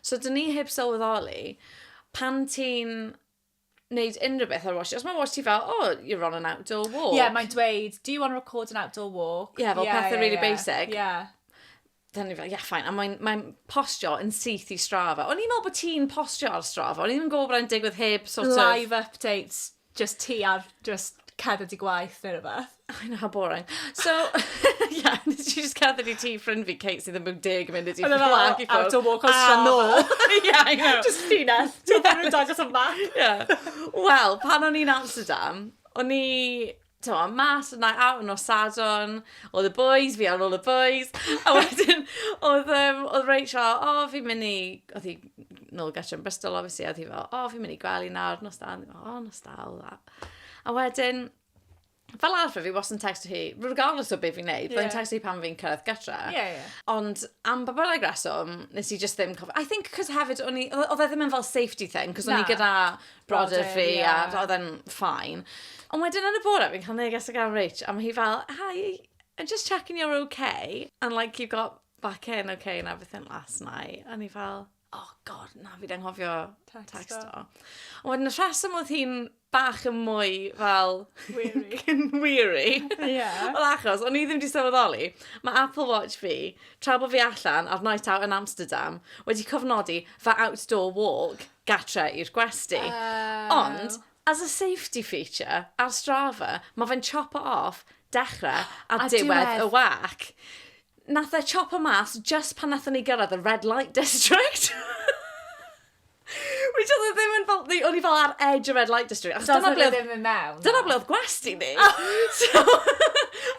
So dyn ni heb sylweddoli, pan ti'n wneud unrhyw beth ar watch, os mae watch ti fel, oh, you're on an outdoor walk. Ie, yeah, mae'n dweud, do you want to record an outdoor walk? Ie, yeah, fel yeah, pethau yeah, really yeah. basic. Ie. Yeah. Dyna ni fel, yeah, fine. A mae'n mae postio yn syth i strafa. O'n i'n meddwl bod ti'n postio ar strafa. O'n i'n gwybod bod e'n digwydd heb sort Live of... Live updates. Just ti ar just cerdded i gwaith neu rhywbeth. I know, how boring. So, yeah, nes i just cerdded i ti ffrind fi, Kate, sydd yn mynd deg yn mynd i ti Ond fel, fflag i ffwrdd. out a walk on Strava. nôl. yeah, I know. Just llinell. Ti'n dweud dangos y map. Yeah. Wel, pan o'n i'n Amsterdam, o'n i t'mo, mas yna out yn nos Sadwrn, oedd y boys, fi ar ôl y boys, a wedyn oedd, um, oedd Rachel, fel, o, oh, fi'n mynd i, oedd hi nôl gartre yn Bristol, obviously, oedd hi fel, o, oh, fi'n mynd i gwely nawr, nos da, o, oh, nos da, all that. A wedyn, fel arfer fi was yn text hi, regardless o beth fi'n neud, yeah. text hi pan fi'n cyrraedd gytra. Yeah, yeah. Ond am ba bynnag reswm, nes i just ddim cofio. I think cos hefyd, oedd e ddim yn fel safety thing, cos o'n i gyda brodyr fi a oedd e'n ffain. Ond wedyn yn y bore, fi'n cael neges o gan Rach, a mae hi fel, hi, I'm just checking you're okay, and like you got back in okay and everything last night. A ni fel, oh god, na, fi dde'n hofio text o. Ond wedyn y rheswm oedd hi'n bach yn mwy fel... Weary. weary. Yeah. Wel achos, o'n i ddim wedi sylweddoli, mae Apple Watch fi, tra bod fi allan ar night out yn Amsterdam, wedi cofnodi fy outdoor walk. gatre i'r gwesty. Uh... Ond, as a safety feature, ar Strava, mae fe'n chopo off dechrau a, a diwedd, diwedd y wac. Nath e chopo mas just pan nath ni gyrraedd y red light district. Which oedd e ddim yn fel, o'n i fel ar edge y red light district. Achos dyna ble oedd... ddim yn mewn. Dyna ble oedd gwesti ni. Oh. so,